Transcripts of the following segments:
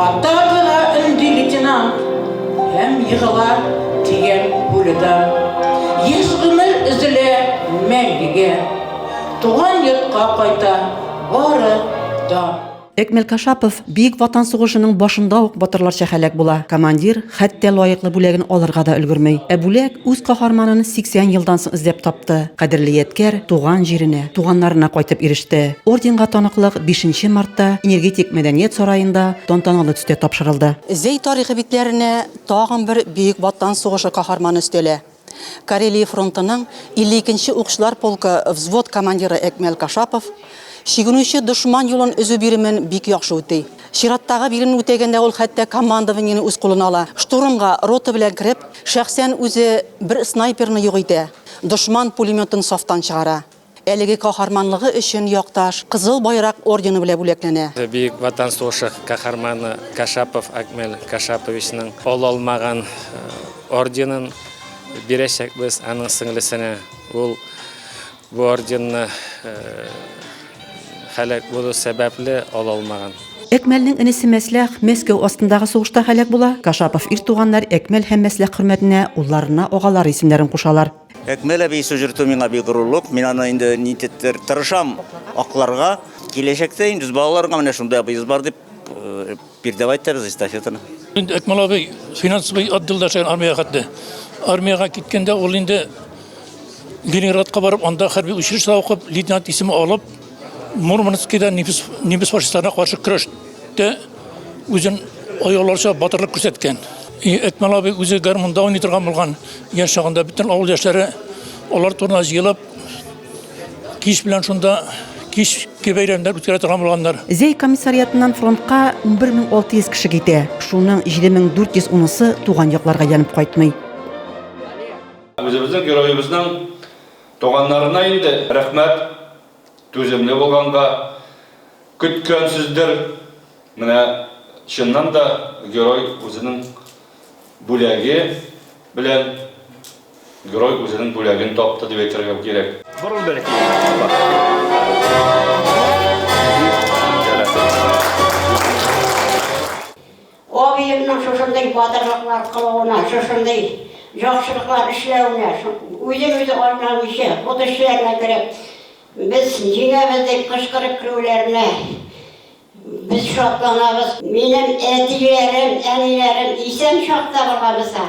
Ата гына өнди лейтенант, Һәм егыла дигән пуляда. Еш гомер өзелә мәңгегә, Туган йортка кайта бары да. Экмел Кашапов Бөек Ватан сугышының башында ук батырларча һәлак була. Командир хәтта лаеклы бүләген алырга да өлгерми. Ә бүләк үз каһарманын 80 елдан соң эзләп тапты. Кадерле ядкәр туган җиренә, туганнарына кайтып иреште. Орденга таныклык бишенче мартта Энергетик мәдәният сараенда тантаналы төстә тапшырылды. Зәй тарихы битләренә тагын бер Бөек Ватан сугышы каһарманы өстәлә. Карелия фронтының 52 нче укчылар полкы взвод командиры Әкмәл Кашапов чигенүче дошман юлын өзү биремен бик яхшы үти. Чираттагы биремне үтәгәндә ул хәтта командованиене үз кулына ала. Штурмга рота белән кереп, шәхсән үзе бер снайперны юк итә, дошман пулеметын сафтан чыгара. Әлеге каһарманлыгы өчен Якташ Кызыл Байрак ордены белән бүләкләнә. Бөек Ватан сугышы каһарманы Кашапов Акмел Кашаповичның ала алмаган орденын бирәчәкбез аның сеңлесенә. Ул бу орденны һәлак булу сәбәпле ала алмаган. Әкмәлнең энесе Мәсләх Мәскәү астындагы сугышта һәлак була. Кашапов ир туганнар Әкмәл һәм Мәсләх хөрмәтенә улларына агалары исемнәрен кушалар. Әкмәл әби сөҗертү миңа бик горурлык. Мин аны инде нитеттер тырышам акларга. Киләчәктә инде балаларга менә шундый абыебыз бар дип э, передавать итәбез эстафетаны. Инде Әкмәл абый финансовый отделда эшләгән армиягә хәтле. Армиягә киткәндә ул инде Ленинградка барып, анда хәрби училищеда укып, лейтенант исеме алып, Мурманскида немец немец фашистларына каршы көрәштә үзен аяуларча батырлык күрсәткән. И Әтмәл абый үзе гармунда уйный торган булган яшь чагында бөтен авыл яшьләре алар турына җыелып кич белән шунда кич бәйрәмнәр үткәрә торган булганнар. Зәй комиссариатыннан фронтка 11600 кеше китә. Шуның 7410-сы туган якларга янып кайтмый. Үзебезнең героебызның Туганнарына инде рәхмәт, түземле булганга. Көткәнсездер, менә чыннан да герой үзенең бүләге белән герой үзенең бүләген тапты дип әйтергә кирәк. Борыл бәләкәй генә апа. Дип, Диләрә. Абыемның шушындый батырлыклар кылуына, шушындый яхшылыклар эшләвенә, үзен-үзе айнамыйча, ут эшчеләренә кереп, без җиңәбез дип кычкырып керүләренә без шатланабыз. Минем әтиләрем, әниләрем исән чакта булганмса,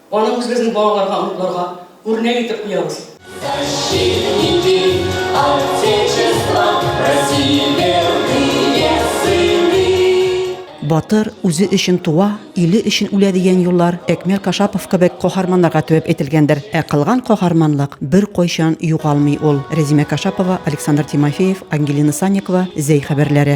Аны үзебезнең балаларга, оныкларга үрнәк итеп куябыз. Защитники Отечества, России верные сыны. Батыр, үзе өчен туа, иле өчен үлә дигән юллар Әкмәл Кашапов кебек каһарманнарга төяп әйтелгәндер. Ә кылган каһарманлык беркайчан югалмый ул. Рәзимә Кашапова, Александр Тимофеев, Ангелина Санникова, Зәй хәбәрләре.